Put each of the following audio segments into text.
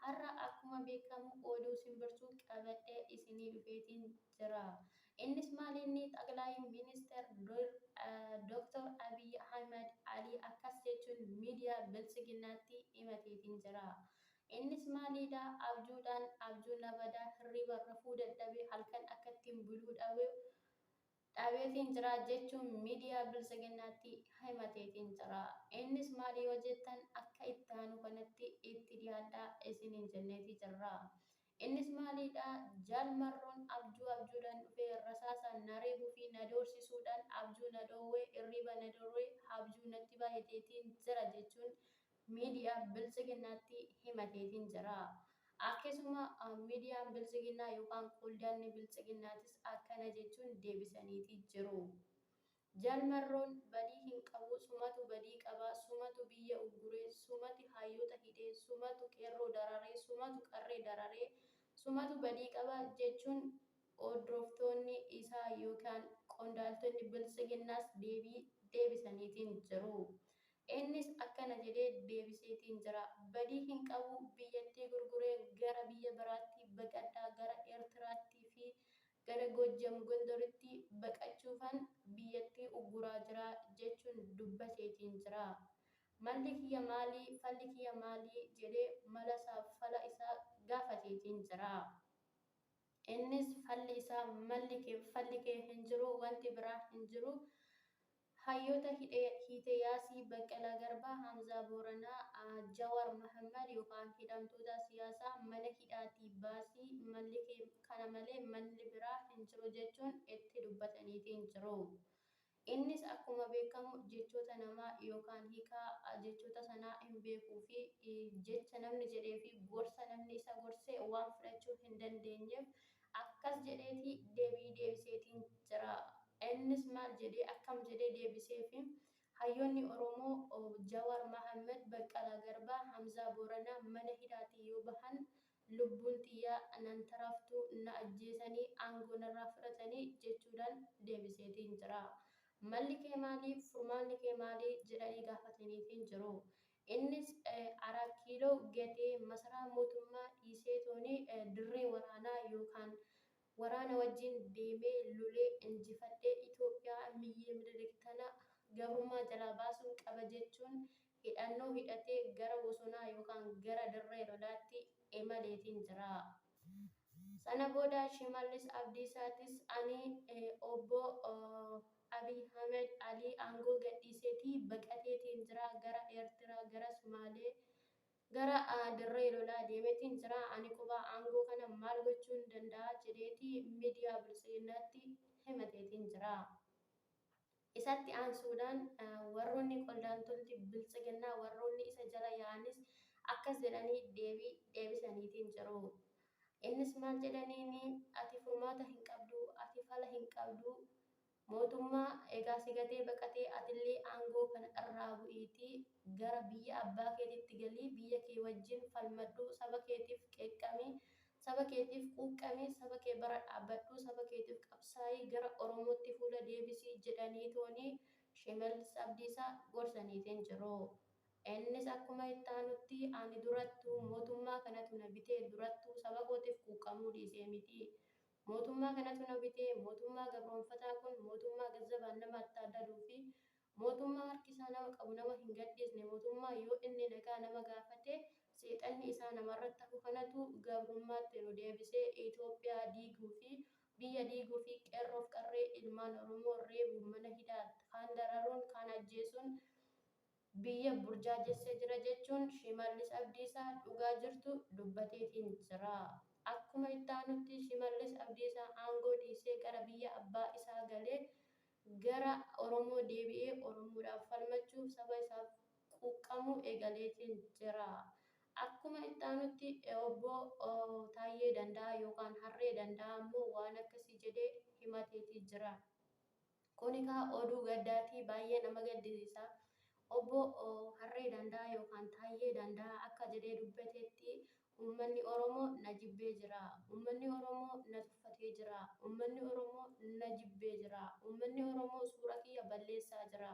Har'a akkuma beekkamu oduu simbirtuu qabadhee isinii dhufeetiin jira. Innis maal inni xaqlaayi minister Dr. Abiy Ahimad Ali akkas jechuun miidiyaa biltsiginnaatti himateetiin jira. Innis maaliidhaa abjuudhaan abjuu na badaa hirriiban rafuu dadhabee halkan akkattiin buluu dhabe dhaabeetiin jira jechuun miidiyaa Biltsiginnaatti himateetiin jira. Innis maali yoo jettan akka itti aanu kanatti itti dhiyaadhaa isiniin jenneetii jirra. Innis maaliidha? Jaal Marroon abjuu abjuudhaan dhufee rasaasaan na reebuu fi na doorsisuudhaan abjuu na dhoowwe, irriiba na dorwe, habjuu natti baayeteetiin jira jechuun miidiyaa Biltsiginnaatti himateetiin jira. Akkasuma miidiyaan Biltsiginnaa yookaan qondaalli Biltsiginnaatis akkana jechuun deebisaniitii jiru. Jaal Marroon badii hin qabu, sumatu badii qaba, sumatu biyya ugguree, sumati hayyoota hidhee, sumatu qeerroo dararee, sumatu qarree dararee, sumatu badii qaba jechuun hordoftoonni isaa yookaan qondaaltonni Biltsiginnaas deebii deebisaniitiin jiru. Innis akkana jedhee deebiseetiin jira, badii hin qabu, biyyattii gurguree gara biyya biraatti baqadha, gara Eertiraatti fi gara Goojjam Gondoritti baqachuufan biyyattii ugguraa jira jechuun dubbateetiin jira. Malli kiyya maali, falli kiyya maali jedhee malasaaf fala isaa gaafateetiin jira. Innis falli isaa malli kee, falli kee hin jiru, wanti biraa hin jiru, Hayyoota hidhe hiite Yaasii Baqqalaa Garbaa, Hamzaa Booranaa, Jawaar Mahammad yookaan hidhamtoota siyaasaa mana hidhaatii baasi malli kee kana malee malli biraa hin jiru jechuun itti dubbataniitiin jiru. Innis akkuma beekamu jechoota namaa yookaan hiikaa jechoota sanaa hin beekuu fi jecha namni jedhee fi gorsa namni isa gorse waan fudhachuu hin dandeenyeef Akkas jedheeti debii deebiseetiin jira. Innis maal jedhee akkam jedhee deebiseefi? Hayyoonni Oromoo Jawaar Mahammad, Baqqalaa Garbaa, Hamzaa Booranaa mana hidhaatii yoo bahan lubbuun tiyya nan taraftuu na ajjeesanii aangoo narraa fudhatanii jechuudhaan deebiseetiin jira. Malli kee maali? Furmaanni kee maali? jedhanii gaafataniitiin jiru. Innis Araat Kiiloo gatee masaraa mootummaa dhiiseetooni dirree waraanaa yookaan waraana wajjin deemee lolee injifadhee Itoophiyaa miyyee Minilik tana gabrummaa jalaa baasuun qaba jechuun hidhannoo hidhatee gara bosonaa yookaan gara dirree lolaatti emaleetiin jira. Sana booda Shimallis Abdiisaatis ani Obbo Abiy Ahmed Ali aangoo gadhiiseeti baqateetiin jira, gara Eertiraa, gara Sumaalee, gara dirree lolaa deemeetiin jira, ani quba aangoo kana maal gochuun danda'a jedheeti miidiyaa Biltsiginnaatti himateetiin jira. Isatti aansuudhaan warroonni qoldaantolti Biltsiginnaa warroonni isa jala yaa'anis akkas jedhanii deebii deebisaniitiin jiru. Innis maal jedhaniini ati furmaata hin qabdu, ati fala hin qabdu, mootummaa egaa si gatee baqatee atillee aangoo kana irraa bu'iitii gara biyya abbaa keetitti galii biyya kee wajjin falmadhu, saba keetiif qeeqqami, Saba keetiif quuqqami, saba kee bara dhaabbadhu, saba keetiif qabsaa'i, gara Oromootti fuula deebisi jedhaniitooni Shimallis Abdiisaa gorsaniif hin jiru. Innis akkuma itti aanutti ani durattuu mootummaa kanatu na bitee durattuu saba kootiif quuqqamuu dhiisee miti. Mootummaa kanatu na bitee, mootummaa gabroomfataa kun, mootummaa Gazzabaan nama attaaddaluufi Mootummaa harki isaa nama qabu nama hin gadhiisne, mootummaa yoo inni nagaa nama gaafate seexanni isaa namarratti hafu kanatu gabrummaatti nu deebisee Itoophiyaa diiguu fi biyya diiguu fi qeerroo fi qarree ilmaan Oromoo reebuun mana hidhaa kaan dararuun kaan ajjeesuun biyya burjaajessee jira jechuun Shimallis Abdiisaa dhugaa jirtu dubbateetiin jira. Akkuma itti aanutti Shimallis Abdiisaa aangoo dhiisee gara biyya abbaa isaa galee gara Oromoo deebi'ee Oromoodhaaf falmachuuf saba isaaf quuqqamuu eegaleetiin jira. Akkuma itti aanutti Obbo Taayyee Danda'aa yookaan Harree Danda'aa ammoo waan akkasii jedhee himateetii jira. Kun egaa oduu gaddaati, baay'ee nama gaddisiisa. Obbo Harree Danda'aa yookaan Taayyee Danda'aa akka jedhee dubbateetti Uummanni Oromoo na jibbee jira. Uummanni Oromoo na tuffatee jira. Uummanni Oromoo na jibbee jira. Uummanni Oromoo suura kiyya balleessaa jira.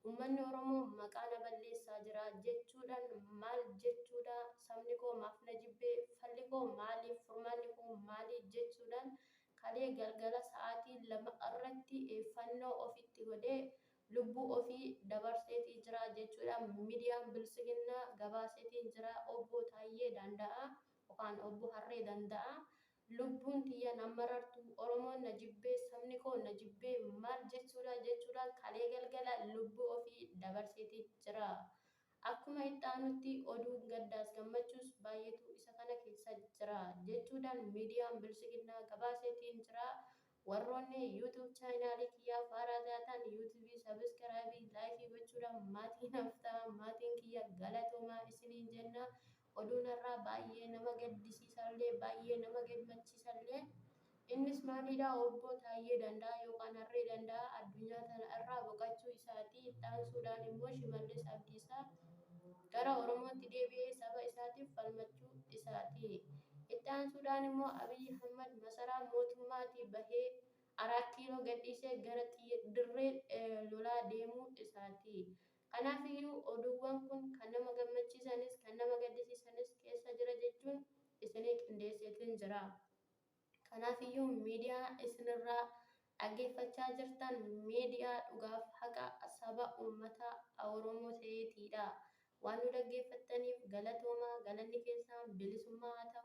Uummanni Oromoo maqaa na balleessaa jira jechuudhaan maal jechuudha? Sabni koo maaf na jibbe? Falli koo maali? Furmaanni koo maali? jechuudhaan kalee galgala sa'aatii 2:00 irratti fannoo ofitti godhee lubbuu ofii dabarseetii jira jechuudhaan midiyaan biltsiginnaa gabaaseetiin jira obboo Taayyee Daanda'aa yokaan obboo Harree Danda'aa lubbuun tiyya na marartuu oromoon na jibbee sabni koo na jibbee maal jechuudhaa jechuudhaan kalee galgala lubbuu ofii dabarseetii jira akkuma itti aanutti oduun gaddaas gammachuus baayyeetu isa kana keessa jira jechuudhaan midiyaan biltsiginnaa gabaaseetiin jira Warroonni YouTube channel kiyyaa faaraa taataan YouTube subscribe like gochuudhaan maatii naaf ta'aa maatiin kiyya galatoomaa isiniin jenna oduun har'aa baay'ee nama gaddisiisallee baay'ee nama gemmachiisallee innis maaliidhaa obboo Taayyee Danda'aa yookaan Harree Danda'aa addunyaa tana irraa boqachuu isaatii itti aansuudhaan immoo Shimallis Abdiisaa gara Oromootti deebi'ee saba isaatiif falmachuu isaati. Itti aansuudhaan immoo Abiy Ahmad masaraa mootummaatii bahee Araat Kiiloo gadhiisee gara dirree lolaa deemuu isaati. Kanaaf iyyuu oduuwwan kun kan nama gammachiisanis kan nama gaddisiisanis keessa jira jechuun isinii qindeesseetin jira. Kanaafiyyuu miidiyaa isinirraa dhaggeeffachaa jirtan miidiyaa dhugaaf haqa saba ummata Oromoo ta'eetiidha. Waan nu dhaggeeffattaniif galatoomaa, galanni keessaan bilisummaa haa ta'u.